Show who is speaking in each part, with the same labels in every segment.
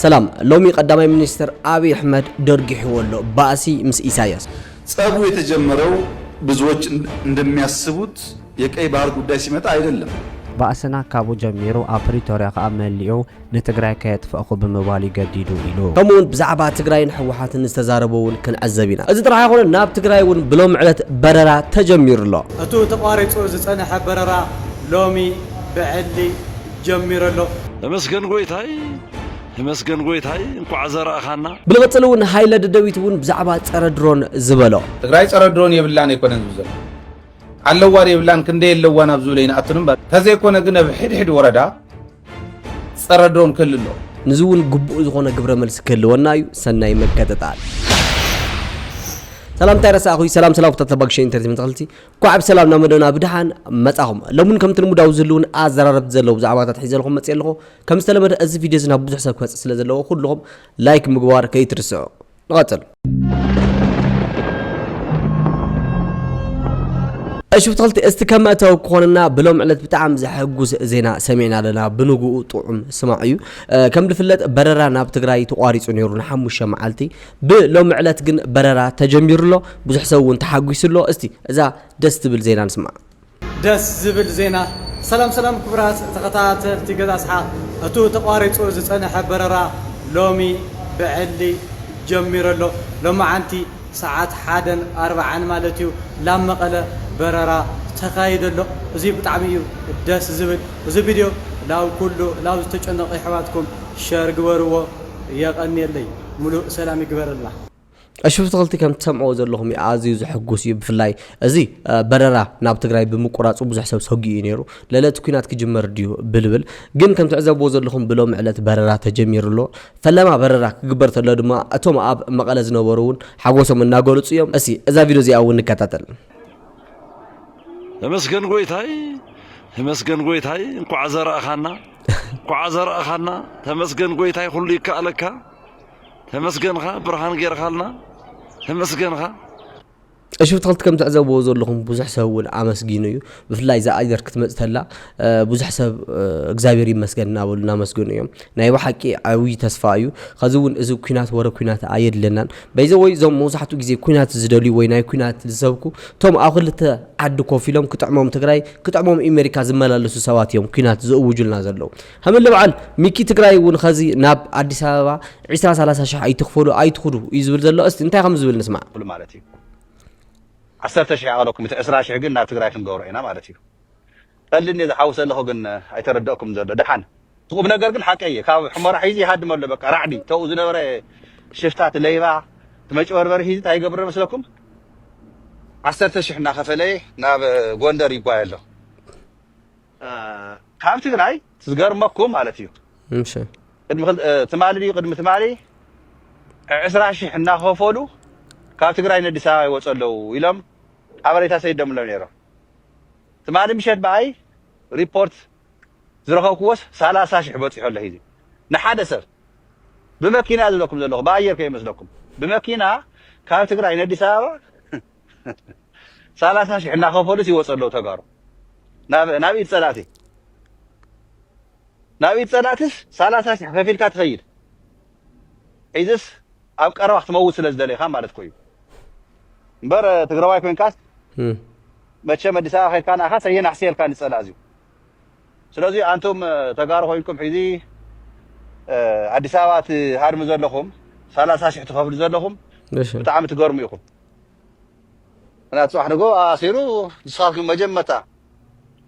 Speaker 1: ሰላም ሎሚ ቀዳማይ ሚኒስትር ኣብይ ኣሕመድ ደርጊሕዎ ኣሎ ባእሲ ምስ ኢሳያስ። ጸቡ
Speaker 2: የተጀመረው ብዙዎች እንደሚያስቡት የቀይ ባህር ጉዳይ ሲመጣ አይደለም። ባእስና ካብኡ
Speaker 3: ጀሚሩ ኣብ ፕሪቶርያ ከኣ መሊኡ ንትግራይ ከየጥፈእኹ ብምባል እዩ ገዲዱ ኢሉ። ከምኡ ውን ብዛዕባ
Speaker 1: ትግራይን ህወሓትን ዝተዛረቦ ውን ክንዕዘብ ኢና። እዚ ጥራሕ ኣይኮነን ናብ ትግራይ ውን ብሎሚ ዕለት በረራ ተጀሚሩ ኣሎ። እቱ ተቋሪጹ
Speaker 4: ዝጸነሐ በረራ ሎሚ ብዕሊ ጀሚረ ኣለኹ። ተመስገን ጎይታይ
Speaker 5: ተመስገን ጎይታይ እንኳዕ ዘራእኻና። ብልቕፅል እውን ሃይለ
Speaker 1: ደደቢት እውን ብዛዕባ ፀረ ድሮን ዝበሎ። ትግራይ ፀረ ድሮን
Speaker 6: የብላን ኣይኮነን ዝብል ዘሎ ኣለዋን የብላን ክንደይ ኣለዋን ኣብ ዝብል ኣይንኣቱን እምበር ተዘይኮነ ግን ኣብ ሕድሕድ ወረዳ ፀረ ድሮን ክህሉ ኣለዎ። ንዚ እውን ግቡእ
Speaker 1: ዝኾነ ግብረ መልሲ ክህልወና እዩ። ሰናይ ምክትታል። ሰላምታይ ረሳዕኹይ ሰላም ሰላም ኩታትለባግሸ ኢንተርቴመንት ተኸልቲ ኳዕ ብሰላም ናብ መደብና ብድሓን መጻኹም። ሎምን ከምቲ ልሙድ ኣብ ዝህልውን ኣዘራረብቲ ዘለዎም ዛዕባታት ሒዘልኹም መጽየ ኣለኹ። ከም ዝተለመደ እዚ ቪድዮ እዚ ናብ ብዙሕ ሰብ ክበጽሕ ስለ ዘለዎ ኩልኹም ላይክ ምግባር ከይትርስዑ። ንቐጽል። እሺ ብትኽልቲ እስቲ ከም መእተዊ ክኾነና ብሎም ዕለት ብጣዕሚ ዘሐጉስ ዜና ሰሚዕና ኣለና ብንግኡ ጥዑም ስማዕ እዩ ከም ዝፍለጥ በረራ ናብ ትግራይ ተቋሪፁ ነይሩ ንሓሙሽተ መዓልቲ ብ ሎሚ ዕለት ግን በረራ ተጀሚሩ ኣሎ ብዙሕ ሰብ ውን ተሓጒሱ ኣሎ እስቲ እዛ ደስ ትብል ዜና ንስማዕ። ደስ
Speaker 4: ዝብል ዜና! ሰላም ሰላም ክቡራት ተኸታተልቲ ገዛ ስሓቕ እቱ ተቋሪፁ ዝፀነሐ በረራ ሎሚ ብዕሊ ጀሚሩ ኣሎ ሎማዓንቲ ሰዓት ሓደን ኣርባዓን ማለት እዩ ላብ መቐለ በረራ ተካይዱ ኣሎ እዙይ ብጣዕሚ እዩ ደስ ዝብል እዙ ቪድዮ ላብ ኩሉ ላብ ዝተጨነቁ የሕዋትኩም ሸር ግበርዎ የቐንየለይ። ሙሉእ ሰላም ይግበረልና። እሺ ፍትክልቲ
Speaker 1: ከም ትሰምዕዎ ዘለኹም እዩ ኣዝዩ ዘሕጉስ እዩ ብፍላይ እዚ በረራ ናብ ትግራይ ብምቁራጹ ብዙሕ ሰብ ሰጊኡ እዩ ነይሩ ለለ እቲ ኩናት ክጅመር ድዩ ብልብል ግን ከም ትዕዘብዎ ዘለኹም ብሎሚ ዕለት በረራ ተጀሚሩ ኣሎ ፈለማ በረራ ክግበር ተሎ ድማ እቶም ኣብ መቐለ ዝነበሩ እውን ሓጎሶም እናገለጹ እዮም እሲ እዛ ቪድዮ እዚኣ እውን ንከታተል ተመስገን ጎይታይ
Speaker 5: ተመስገን ጎይታይ እንኳዕ ዘራእኻና እንኳዓ ዘረኣኻና ተመስገን ጎይታይ ኩሉ ይከኣለካ ተመስገንኻ ብርሃን ጌርኻልና ተመስገንኻ
Speaker 1: እሺ ብትክልቲ ከም ትዕዘብዎ ዘለኹም ብዙሕ ሰብ እውን ኣመስጊኑ እዩ ብፍላይ እዛ ኣጀር ክትመፅእ ተላ ብዙሕ ሰብ እግዚኣብሔር ይመስገን እናበሉ እናመስገኑ እዮም ናይ ብሓቂ ዓብዪ ተስፋ እዩ ከዚ እውን እዚ ኩናት ወረ ኩናት ኣየድለናን በይዘ ወይ እዞም መብዛሕትኡ ግዜ ኩናት ዝደልዩ ወይ ናይ ኩናት ዝሰብኩ እቶም ኣብ ክልተ ዓዲ ኮፍ ኢሎም ክጥዕሞም ትግራይ ክጥዕሞም ኢመሪካ ዝመላለሱ ሰባት እዮም ኩናት ዝእውጁልና ዘለዉ ሃምለ በዓል ሚኪ ትግራይ እውን ኸዚ ናብ ኣዲስ ኣበባ ዒስራ ሰላሳ ሽሕ ኣይትኽፈሉ ኣይትኹዱ እዩ ዝብል ዘሎ እስቲ እንታይ ከም ዝብል ንስማዕ ክፍሉ ማለት እዩ
Speaker 7: ዓሰርተ ሽሕ ይኣኽለኩም እቲ ዕስራ ሽሕ ግን ናብ ትግራይ ክንገብሮ ኢና ማለት እዩ ቀልዲ እንድየ ዝሓውስ ዘለኹ ግን ኣይተረደእኩም ዘሎ ደሓን እቲ ቁም ነገር ግን ሓቀይ እየ ካብ ሕሞራ ሒዙ ይሃድም ኣሎ በቃ ራዕዲ ተኡ ዝነበረ ሽፍታ እቲ ለይባ እቲ መጭበርበሪ ሒዙ እንታይ ይገብር መስለኩም ዓሰርተ ሽሕ እናኸፈለየ ናብ ጎንደር ይጓየ ኣሎ ካብ ትግራይ ዝገርመኩም ማለት እዩ እሺ
Speaker 1: ቅድሚ ክል- እ፣
Speaker 7: ትማሊ ድዩ ቅድሚ ትማሊ ዕስራ ሽሕ እናኸፈሉ ካብ ትግራይ ንኣዲስ ኣበባ ይወፁ ኣለዉ ኢሎም ሓበሬታ ሰይዶም ሎ ነይሮም ትማሊ ምሸት ብኣይ ሪፖርት ዝረኸብክዎስ ሰላሳ ሽሕ በጺሑ ኣሎ ሂዚ ንሓደ ሰብ ብመኪና እየ ዝብለኩም ዘለኹ ብኣየር ከይመስለኩም ብመኪና ካብ ትግራይ ነዲስ ኣበባ ሰላሳ ሽሕ እናኸፈሉስ ይወጹ ኣለዉ ተጋሩ ናብ ናብ ኢድ ጸላእቲ ናብ ኢድ ጸላእትስ ሰላሳ ሽሕ ከፊልካ ትኸይድ ሒዝስ ኣብ ቀረባ ክትመውት ስለ ዝደለኻ ማለት ኮዩ እምበር ትግራዋይ ኮንካስ መቸም ኣዲስ ኣበባ ከድካ ንኣኻስ ኣየናሕስየልካ ንፀላእ እዚዩ ስለዚ ኣንቱም ተጋሩ ኮይንኩም ሒዚ ኣዲስ ኣበባ ትሃድሙ ዘለኹም ሰላሳ ሽሕ ትኸፍሉ ዘለኹም ብጣዕሚ ትገርሙ ኢኹም ምክንያቱ ፅባሕ ንጎ ኣሲሩ ንስኻትኩም መጀመርታ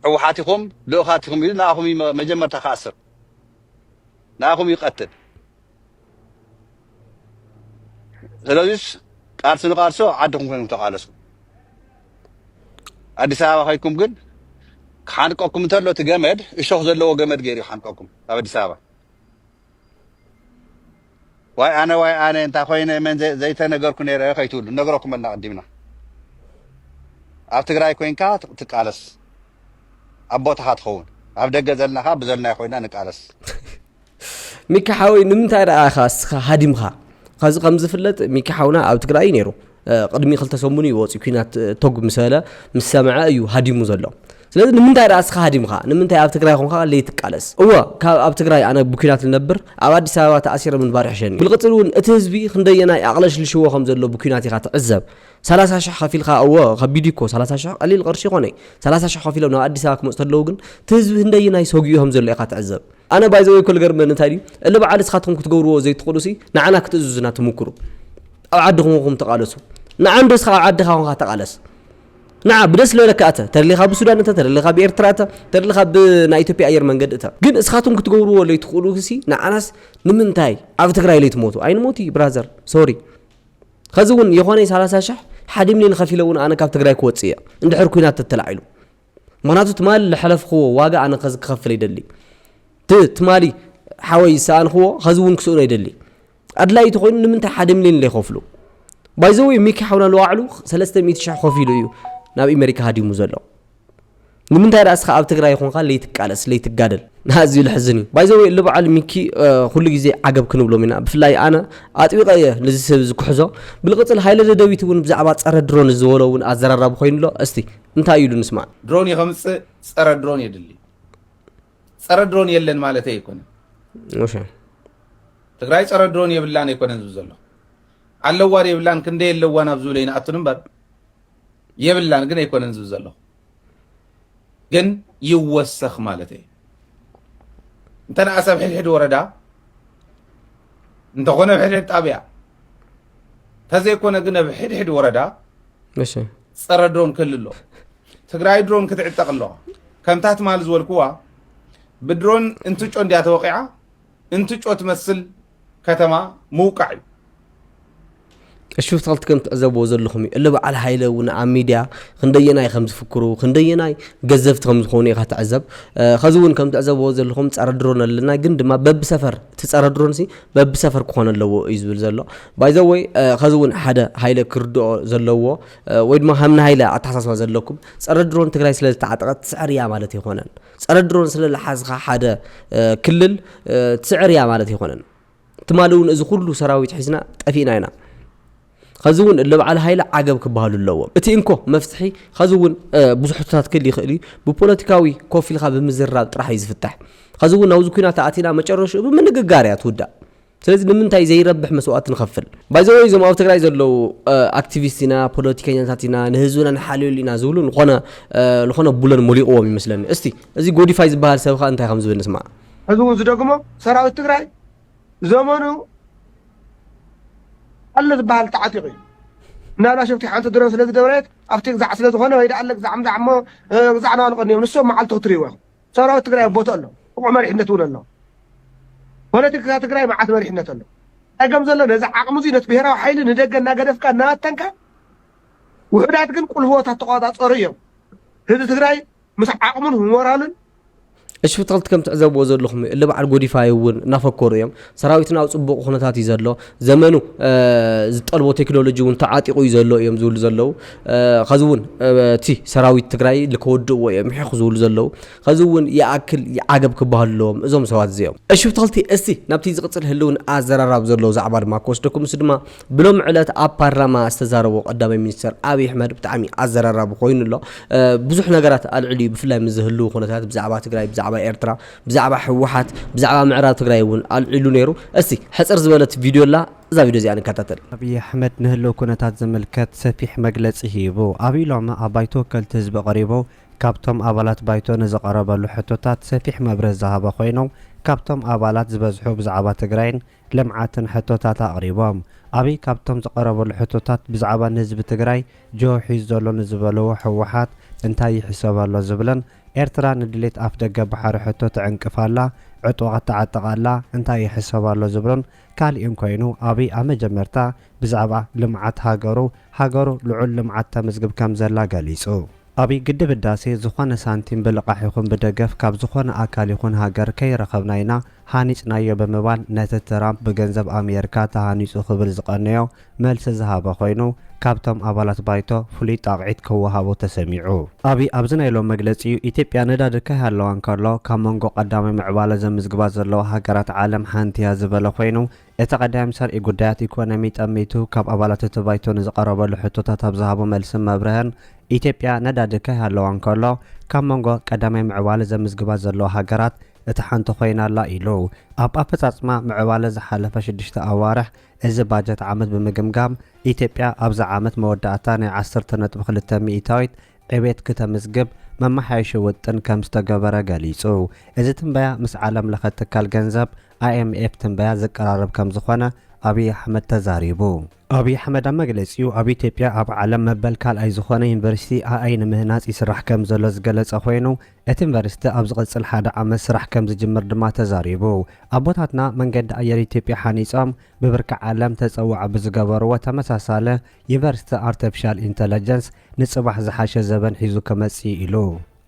Speaker 7: ሕወሓት ኢኹም ልኡኻት ኢኹም ኢሉ ንኣኹም መጀመርታ ክኣስር ንኣኹም ይቀትል ስለዚስ ቃልሲ ንቃልሲ ኣብ ዓድኹም ኮይንኩም ተቃለሱ ኣዲስ ኣበባ ከይኩም ግን ክሓንቀኩም እንተሎ እቲ ገመድ እሾኽ ዘለዎ ገመድ ገይሩ ይሓንቀኩም ኣብ ኣዲስ ኣበባ ዋይ ኣነ ዋይ ኣነ እንታይ ኮይነ መን ዘ- ዘይተነገርኩ ነይረ ከይትብሉ ነግረኩም ኣልና ቅዲምና ኣብ ትግራይ ኮይንካ ት- ትቃለስ ኣብ ቦታኻ ትኸውን ኣብ ደገ ዘለና ኸዓ ብዘልናዮ ኮይና ንቃለስ
Speaker 1: ሚኪ ሓወይ ንምንታይ ደኣ ኢኻ እስኻ ሃዲምካ ከዚ ከም ዝፍለጥ ሚኪ ሓውና ኣብ ትግራይ እዩ ነይሩ ቅድሚ ክልተ ሰሙን እዩ ወፂኡ ኩናት ቶግ ምስ በለ ምስ ሰምዐ እዩ ሃዲሙ ዘሎ ስለዚ ንምንታይ ደኣ እስኻ ሃዲምካ ንምንታይ ኣብ ትግራይ ኾንካ ለይትቃለስ እወ ካብ ኣብ ትግራይ ኣነ ብኲናት ልነብር ኣብ ኣዲስ ኣበባ ተኣሲረ ምንባር ይሕሸኒ ብልቕፅል እውን እቲ ህዝቢ ክንደየናይ ኣቕለሽልሽዎ ከም ዘሎ ብኲናት ኢኻ ትዕዘብ ሰላሳ ሽሕ ከፊልካ እወ ከቢድ እኮ ሰላሳ ሽሕ ቀሊል ቅርሺ ይኾነ ሰላሳ ሽሕ ከፊሎም ናብ ኣዲስ ኣበባ ክመፁ ተለዉ ግን እቲ ህዝቢ ክንደየናይ ሰጊኡ ከም ዘሎ ኢኻ ትዕዘብ ኣነ ባይ ዘ ወይ እኮ ልገርመኒ እንታይ ድዩ እሊ በዓል እስኻትኩም ክትገብርዎ ዘይትኽእሉ ሲ ንዓና ክትእዝዙና ትምክሩ ኣብ ዓድኹም ኹም ተቃለሱ ንዓ እንዶ እስኻ ኣብ ዓድኻ ኹንካ ተቃለስ ንዓ ብደስ ልበለካ እተ ተደሊኻ ብሱዳን እተ ተደሊኻ ብኤርትራ እተ ተደሊኻ ብናይ ኢትዮጵያ ኣየር መንገዲ እተ ግን እስኻትኩም ክትገብርዎ ለይትኽእሉ ሲ ንዓናስ ንምንታይ ኣብ ትግራይ ለይትሞቱ ኣይንሞት እዩ ብራዘር ሶሪ ከዚ እውን የኾነ 30 ሽሕ ሓደ ሚሊዮን ከፊለ እውን ኣነ ካብ ትግራይ ክወፅእ እየ እንድሕር ኩናት ተተላዒሉ ምክንያቱ ትማሊ ልሐለፍኽዎ ዋጋ ኣነ ከዚ ክኸፍል ይደሊ ት ትማሊ ሓወይ ዝሰኣንኽዎ ከዚ እውን ክስእኖ ይደሊ ኣድላይ ተኮይኑ ንምንታይ ሓደ ሚሊዮን ዘይኸፍሉ ባይዘወይ ሚኪ ሓውና ለዋዕሉ ሰለስተ ሚእቲ ሽሕ ከፊሉ እዩ ናብ ኣሜሪካ ሃዲሙ ዘሎ ንምንታይ ደኣ እስኻ ኣብ ትግራይ ይኹንካ ለይትቃለስ ለይትጋደል ኣዝዩ ልሕዝን እዩ ባይዘወ እሊ በዓል ሚኪ ኩሉ ግዜ ዓገብ ክንብሎም ኢና ብፍላይ ኣነ ኣጥቢቐ እየ ነዚ ሰብ እዚ ክሕዞ ብልቕፅል ሃይለ ደደቢት እውን ብዛዕባ ፀረ ድሮን ዝበሎ እውን ኣዘራራቢ ኮይኑ ኣሎ እስቲ እንታይ እዩ ኢሉ ንስማዕ። ድሮን ከምፅእ
Speaker 6: ፀረ ድሮን የድሊ ፀረ ድሮን የለን ማለት ኣይኮነን ትግራይ ፀረ ድሮን የብላን ኣይኮነን ዝብ ዘሎ ኣለዋ የብላን ክንደ የለዋን ኣብ ዝብለ ይንኣቱን እምበር የብላን ግን ኣይኮነን ዝብ ዘሎ ግን ይወሰኽ ማለት እዩ እንተንኣሰብ ሕድሕድ ወረዳ እንተኾነ ኣብ ሕድሕድ ጣብያ ተዘይኮነ ግን ኣብ ሕድሕድ ወረዳ
Speaker 1: ፀረ ድሮን
Speaker 6: ክህሉ ኣለዎ። ትግራይ ድሮን ክትዕጠቕ ኣለዋ። ከምታ ትማል ዝበልኩዋ ብድሮን እንትጮ እንድያ ተወቂዓ እንትጮ ትመስል ከተማ ምውቃዕ እዩ።
Speaker 1: እሹ ተኸልቲ ከም ትዕዘብዎ ዘለኹም እዩ እለ በዓል ሃይለ እውን ኣብ ሚድያ ክንደየናይ ከም ዝፍክሩ ክንደየናይ ገዘፍቲ ከም ዝኾኑ ኢኻ ትዕዘብ ከዚ እውን ከም ትዕዘብዎ ዘለኹም ፀረ ድሮን ኣለና ግን ድማ በብሰፈር እቲ ፀረ ድሮን ሲ በብሰፈር ክኾን ኣለዎ እዩ ዝብል ዘሎ ባይ ዘ ወይ ከዚ እውን ሓደ ሃይለ ክርድኦ ዘለዎ ወይ ድማ ከም ንሃይለ ኣተሓሳስባ ዘለኩም ፀረ ድሮን ትግራይ ስለ ዝተዓጠቐት ትስዕር እያ ማለት ኣይኮነን ፀረ ድሮን ስለ ዝሓዝኻ ሓደ ክልል ትስዕር እያ ማለት ኣይኮነን ትማሊ እውን እዚ ኩሉ ሰራዊት ሒዝና ጠፊእና ኢና ኸዚ እውን እልብዓል ሃይለ ዓገብ ክበሃሉ ኣለዎም። እቲ እንኮ መፍትሒ ኸዚ እውን ብዙሕ ሕቶታት ክህሊ ይኽእል እዩ፣ ብፖለቲካዊ ኮፍ ኢልካ ብምዝርራብ ጥራሕ እዩ ዝፍታሕ። ኸዚ እውን ኣብዚ ኩናት ኣእቲና መጨረሽኡ ብምንግጋር እያ ትውዳእ። ስለዚ ንምንታይ ዘይረብሕ መስዋእቲ ንኸፍል? ባይ ዘ ወይ እዞም ኣብ ትግራይ ዘለዉ ኣክቲቪስት ኢና፣ ፖለቲከኛታት ኢና፣ ንህዝብና ንሓልየሉ ኢና ዝብሉ ልኾነ ልኾነ ቡለን ሞሊቑዎም ይመስለኒ። እስቲ እዚ ጎዲፋይ ዝበሃል ሰብ ኸኣ እንታይ ከም ዝብል ንስማዕ። ኸዚ እውን ዝደግሞ
Speaker 8: ሰራዊት ትግራይ ዘመኑ ኣሎ ዝበሃል ተዓጢቑ እዩ እናብላ ሸፍቲ ሓንቲ ድሮ ስለ ዝደብረት ኣብቲ ግዛዕ ስለ ዝኾነ ወይ ደኣ ግዛዕ ምዛዕ እሞ ግዛዕ ናዋልቐኒ እዮም ንሶም መዓልቲ ክትርእይዎ ኢኹም ሰራዊት ትግራይ ቦቶ ኣሎ ብቑዕ መሪሕነት እውን ኣሎ ፖለቲካ ትግራይ መዓት መሪሕነት ኣሎ ጸገም ዘሎ ነዚ ዓቕሚ እዚ ነቲ ብሄራዊ ሓይሊ ንደገ እናገደፍካ እናበተንካ ውሑዳት ግን ቁልፍቦታት ተቆጻጸሩ እዮም ህዝቢ ትግራይ ምስ ዓቕሙን ሞራሉን እሺ
Speaker 1: ብትክልቲ ከም ትዕዘብዎ ዘለኹም እዩ እለ በዓል ጎዲፋይ እውን እናፈከሩ እዮም ሰራዊትና ኣብ ፅቡቕ ኩነታት እዩ ዘሎ ዘመኑ ዝጠልቦ ቴክኖሎጂ እውን ተዓጢቑ እዩ ዘሎ እዮም ዝብሉ ዘለዉ ከዚ እውን እቲ ሰራዊት ትግራይ ልከወድእዎ እዮም ምሕኹ ዝብሉ ዘለዉ ከዚ እውን ይኣክል ዓገብ ክበሃሉ ኣለዎም እዞም ሰባት እዚኦም እሺ ብትክልቲ እስቲ ናብቲ ዝቕፅል ህልውን ኣዘራራብ ዘሎ ዛዕባ ድማ ክወስደኩም ምስ ድማ ብሎሚ ዕለት ኣብ ፓርላማ ዝተዛረቦ ቀዳማይ ሚኒስተር ኣብይ ኣሕመድ ብጣዕሚ ኣዘራራቢ ኮይኑ ኣሎ። ብዙሕ ነገራት ኣልዕሉ እዩ ብፍላይ ምስ ዝህልው ኩነታት ብዛዕባ ትግራይ፣ ብዛዕባ ኤርትራ፣ ብዛዕባ ህወሓት፣ ብዛዕባ ምዕራብ ትግራይ እውን ኣልዒሉ ነይሩ። እስቲ ሕፅር ዝበለት ቪድዮ ኣላ እዛ ቪድዮ እዚኣ ንከታተል። ኣብይ ኣሕመድ ንህልው
Speaker 3: ኩነታት ዝምልከት ሰፊሕ መግለፂ ሂቡ። ኣብይ ሎሚ ኣብ ባይቶ ወከልቲ ህዝቢ ቀሪቡ ካብቶም ኣባላት ባይቶ ንዝቐረበሉ ሕቶታት ሰፊሕ መብርህ ዝሃበ ኮይኑ ካብቶም ኣባላት ዝበዝሑ ብዛዕባ ትግራይን ልምዓትን ሕቶታት ኣቕሪቦም። ኣብይ ካብቶም ዝቐረበሉ ሕቶታት ብዛዕባ ንህዝቢ ትግራይ ጅሆ ሒዙ ዘሎ ንዝበልዎ ህወሓት እንታይ ይሕሰብ ኣሎ ዝብልን ኤርትራ ንድሌት ኣፍደገ ባሕሪ ሕቶ ትዕንቅፍ ኣላ፣ ዕጡቓት ትዓጥቕ ኣላ እንታይ ይሕሰብ ኣሎ ዝብሉን ካሊእን ኮይኑ ኣብይ ኣብ መጀመርታ ብዛዕባ ልምዓት ሃገሩ ሃገሩ ልዑል ልምዓት ተምዝግብ ከምዘላ ገሊፁ። ኣብ ግድብ ህዳሴ ዝኾነ ሳንቲም ብልቓሕ ይኹን ብደገፍ ካብ ዝኾነ ኣካል ይኹን ሃገር ከይረኸብና ኢና ሃኒፅናዮ ብምባል ነቲ ትራምፕ ብገንዘብ ኣሜሪካ ተሃኒፁ ክብል ዝቐነዮ መልሲ ዝሃበ ኮይኑ ካብቶም ኣባላት ባይቶ ፍሉይ ጣቕዒት ክወሃቦ ተሰሚዑ። ኣብይ ኣብዚ ናይ ሎሚ መግለፂኡ ኢትዮጵያ ነዳዲ ከይሃለዋ እንከሎ ካብ መንጎ ቀዳማይ ምዕባለ ዘምዝግባ ዘለዋ ሃገራት ዓለም ሓንቲ እያ ዝበለ ኮይኑ እቲ ቀዳም ሰርኢ ጉዳያት ኢኮኖሚ ጠሚቱ ካብ ኣባላት እቲ ባይቶ ንዝቐረበሉ ሕቶታት ኣብ ዝሃቦ መልስን መብርህን፣ ኢትዮጵያ ነዳዲ ከይሃለዋ እንከሎ ካብ መንጎ ቀዳማይ ምዕባለ ዘምዝግባ ዘለዋ ሃገራት እታ ሓንቲ ኮይና ኣላ ኢሉ። ኣብ ኣፈፃፅማ ምዕባለ ዝሓለፈ ሽዱሽተ ኣዋርሕ እዚ ባጀት ዓመት ብምግምጋም ኢትዮጵያ ኣብዚ ዓመት መወዳእታ ናይ ዓሰርተ ነጥቢ ክልተ ሚኢታዊት ዕቤት ክተምዝግብ መመሓየሺ ውጥን ከምዝተገበረ ገሊፁ። እዚ ትንበያ ምስ ዓለም ለኸ ትካል ገንዘብ ኣይኤምኤፍ ትንበያ ዝቀራረብ ከምዝኾነ ኣብይ ኣሕመድ ተዛሪቡ። ኣብይ ኣሕመድ ኣብ መግለፂኡ ኣብ ኢትዮጵያ ኣብ ዓለም መበል ካልኣይ ዝኾነ ዩኒቨርሲቲ ኣኣይ ንምህናፅ ይስራሕ ከምዘሎ ዝገለፀ ኮይኑ እቲ ዩኒቨርሲቲ ኣብ ዝቕፅል ሓደ ዓመት ስራሕ ከምዝጅምር ድማ ተዛሪቡ። ኣቦታትና መንገዲ ኣየር ኢትዮጵያ ሓኒፆም ብብርኪ ዓለም ተፀዋዒ ብዝገበርዎ ተመሳሳሊ ዩኒቨርሲቲ ኣርተፊሻል ኢንተለጀንስ ንፅባሕ ዝሓሸ ዘበን ሒዙ ክመፅእ ኢዩ ኢሉ።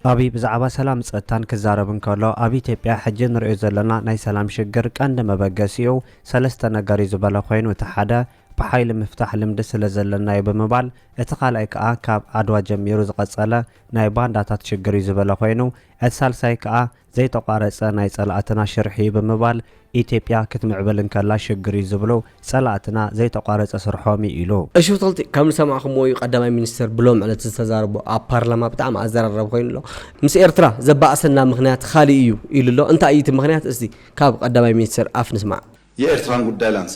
Speaker 3: ኣብይ ብዛዕባ ሰላም ጸጥታን ክዛረብ እንከሎ ኣብ ኢትዮጵያ ሕጂ ንርእዮ ዘለና ናይ ሰላም ሽግር ቀንዲ መበገሲኡ ሰለስተ ነገር'ዩ ዝበለ ኮይኑ እቲ ሓደ ብሓይሊ ምፍታሕ ልምዲ ስለ ዘለና'ዩ ብምባል እቲ ካልኣይ ከኣ ካብ ዓድዋ ጀሚሩ ዝቐጸለ ናይ ባንዳታት ሽግር'ዩ ዝበለ ኮይኑ እቲ ሳልሳይ ከኣ ዘይተቋረጸ ናይ ጸላእትና ሽርሒ'ዩ ብምባል፣ ኢትዮጵያ ክትምዕብል እንከላ ሽግር'ዩ ዝብሉ ጸላእትና ዘይተቋረጸ ስርሖም'ዩ ኢሉ። እሽፍቶልቲ ከም
Speaker 1: ዝሰማዕኩምዎ እዩ ቀዳማይ ሚኒስተር ብሎም ዕለት ዝተዛረቦ ኣብ ፓርላማ ብጣዕሚ ኣዘራራቢ ኮይኑ ኣሎ ምስ ኤርትራ ዘባእሰና ምኽንያት ኻሊእ እዩ ኢሉ ኣሎ እንታይ እዩ እቲ ምኽንያት እስቲ ካብ ቀዳማይ ሚኒስተር ኣፍ ንስማዕ። የኤርትራን ጉዳይ
Speaker 2: ላንሳ።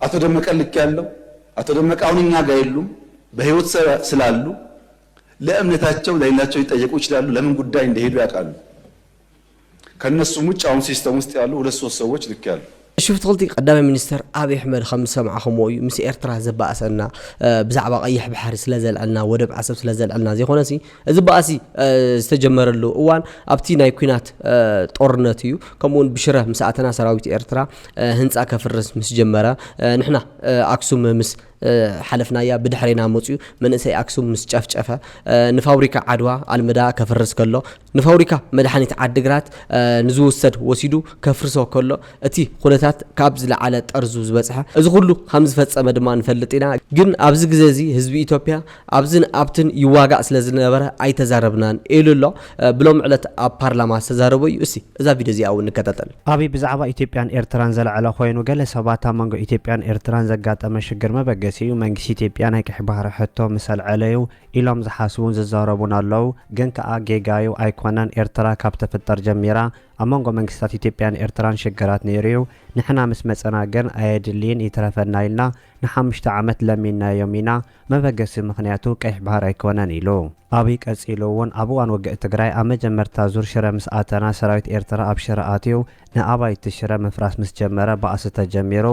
Speaker 2: ኣቶ ደመቀ ልክ ያለው ኣቶ ደመቀ አሁን እኛ ጋር የሉም በህይወት ስላሉ ለእምነታቸው ለሌላቸው ሊጠየቁ ይችላሉ። ለምን ጉዳይ እንደሄዱ ያውቃሉ። ከነሱም ውጭ አሁን ሲስተም ውስጥ ያሉ ሁለት ሶስት ሰዎች ልክ ያሉ
Speaker 1: ሽፍትክልቲ ቀዳማይ ሚኒስተር ኣብዪ ኣሕመድ ከም ዝሰማዕኹምዎ እዩ ምስ ኤርትራ ዘባእሰና ብዛዕባ ቀይሕ ባሕሪ ስለ ዘልዐልና ወደብ ዓሰብ ስለ ዘልዐልና ዘይኮነሲ እዚ ባእሲ ዝተጀመረሉ እዋን ኣብቲ ናይ ኲናት ጦርነት እዩ። ከምኡውን ብሽረ ምስ ኣተና ሰራዊት ኤርትራ ህንጻ ከፍርስ ምስ ጀመረ፣ ንሕና ኣክሱም ምስ ሓለፍናያ ብድሕሬና መጽዩ መንእሰይ ኣክሱም ምስ ጨፍጨፈ፣ ንፋብሪካ ዓድዋ ኣልመዳ ከፍርስ ከሎ፣ ንፋብሪካ መድሓኒት ዓዲግራት ንዝውሰድ ወሲዱ ከፍርሶ ከሎ፣ እቲ ኩነታት ካብ ዝለዓለ ጠርዙ ዝበጽሐ። እዚ ኩሉ ከም ዝፈጸመ ድማ ንፈልጥ ኢና። ግን ኣብዚ ግዜ እዚ ህዝቢ ኢትዮጵያ ኣብዝን ኣብትን ይዋጋእ ስለ ዝነበረ ኣይተዛረብናን ኢሉ ኣሎ። ብሎሚ ዕለት ኣብ ፓርላማ ዝተዛረቦ እዩ። እስቲ እዛ ቪድዮ እዚኣ እውን ንከታተል። ኣብይ ብዛዕባ ኢትዮጵያን
Speaker 3: ኤርትራን ዘልዐለ ኮይኑ ገለ ሰባት ኣብ መንጎ ኢትዮጵያን ኤርትራን ዘጋጠመ ሽግር መበገሲኡ መንግስቲ ኢትዮጵያ ናይ ቀይሕ ባህሪ ሕቶ ምስ ኣልዐለዩ ኢሎም ዝሓስቡን ዝዛረቡን ኣለው ግን ከኣ ጌጋዩ ኣይኮነን ኤርትራ ካብ ትፍጠር ጀሚራ ኣብ መንጎ መንግስታት ኢትዮጵያን ኤርትራን ሽግራት ነይሩዩ ንሕና ምስ መጸና ግን ኣየድልይን ይትረፈና ኢልና ንሓሙሽተ ዓመት ለሚንናዮም ኢና መበገሲ ምኽንያቱ ቀይሕ ባህር ኣይኮነን ኢሉ። ኣብይ ቀጺሉ እውን ኣብ እዋን ውግእ ትግራይ ኣብ መጀመርታ ዙር ሽረ ምስ ኣተና ሰራዊት ኤርትራ ኣብ ሽረ ኣትዩ ንኣባይቲ ሽረ ምፍራስ ምስ ጀመረ ባእሲ ተጀሚሩ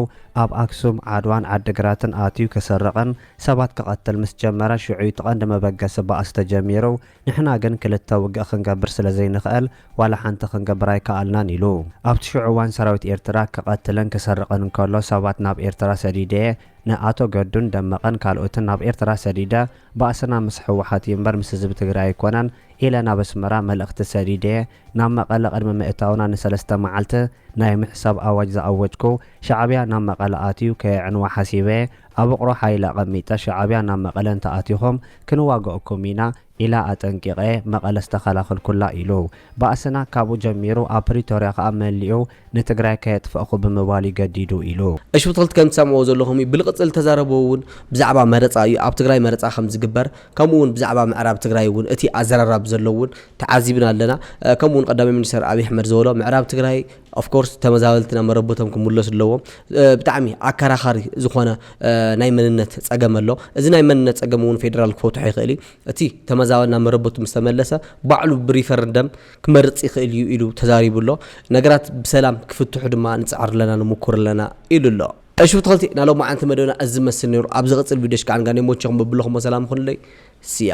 Speaker 3: ኣብ ኣክሱም፣ ዓድዋን ዓዲግራትን ኣትዩ ከሰርቕን ሰባት ክቐትል ምስ ጀመረ ሽዑ እዩ እቲ ቀንዲ መበገሲ ባእሲ ተጀሚሩ ንሕና ግን ክልተ ውግእ ክንገብር ስለ ዘይንኽእል ዋላ ሓንቲ ክንገብር ኣይከኣልናን ኢሉ። ኣብቲ ሽዑ እዋን ሰራዊት ኤርትራ ክቐትልን ክሰርቕን እንከሎ ሰባት ናብ ኤርትራ ሰዲደ'የ፣ ንኣቶ ገዱን ደመቀን ካልኦትን ናብ ኤርትራ ሰዲደ፣ ባእስና ምስ ህወሓት'ዩ እምበር ምስ ህዝቢ ትግራይ ኣይኮነን ኢለ ናብ ኣስመራ መልእኽቲ ሰዲደ'የ፣ ናብ መቐለ ቅድሚ ምእታውና ንሰለስተ መዓልቲ ናይ ምሕሳብ ኣዋጅ ዝኣወጅኩ ሻዕብያ ናብ መቐለ ኣትዩ ከየዕንዋ ሓሲበ ኣብ ውቕሮ ሓይሊ ኣቐሚጠ ሻዕብያ ናብ መቐለ እንተኣቲኹም ክንዋገኣኩም ኢና ኢላ ኣጠንቂቐ መቐለ ዝተኸላኸልኩላ ኢሉ ባእስና ካብኡ ጀሚሩ ኣብ ፕሪቶርያ ከኣ መሊኡ ንትግራይ ከየጥፈእኹ ብምባል እዩ ገዲዱ ኢሉ። እሺ ብትኽልቲ ከም ትሰምዕዎ
Speaker 1: ዘለኹም እዩ ብልቅፅል ዝተዛረቦ እውን ብዛዕባ መረፃ እዩ ኣብ ትግራይ መረፃ ከም ዝግበር ከምኡ እውን ብዛዕባ ምዕራብ ትግራይ እውን እቲ ኣዘራራብ ዘሎ እውን ተዓዚብና ኣለና ከምኡ እውን ቀዳማይ ሚኒስትር ኣብይ ኣሕመድ ዝበሎ ምዕራብ ትግራይ of course ተመዛበልቲ ናብ መረበቶም ክምለሱ ኣለዎም ብጣዕሚ ኣከራኻሪ ዝኾነ ናይ መንነት ፀገም ኣሎ እዚ ናይ መንነት ፀገም እውን ፌዴራል ክፈትሖ ይኽእል እዩ እቲ ተመዛበል ናብ መረበቱ ምስ ተመለሰ ባዕሉ ብሪፈረንደም ክመርጽ ይኽእል እዩ ኢሉ ተዛሪቡ ኣሎ። ነገራት ብሰላም ክፍትሑ ድማ ንጽዕር ኣለና ንሙኩር ኣለና ኢሉ ኣሎ። እሺ ብትክልቲ ናይ ሎማዓንቲ መደብና እዚ ዝመስል ነይሩ ኣብ ዝቅፅል ቪድዮ እሽ ካዓ ንጋኒ ይሞቸኹም በብለኹሞ ሰላም ይኹንለይ ስያ።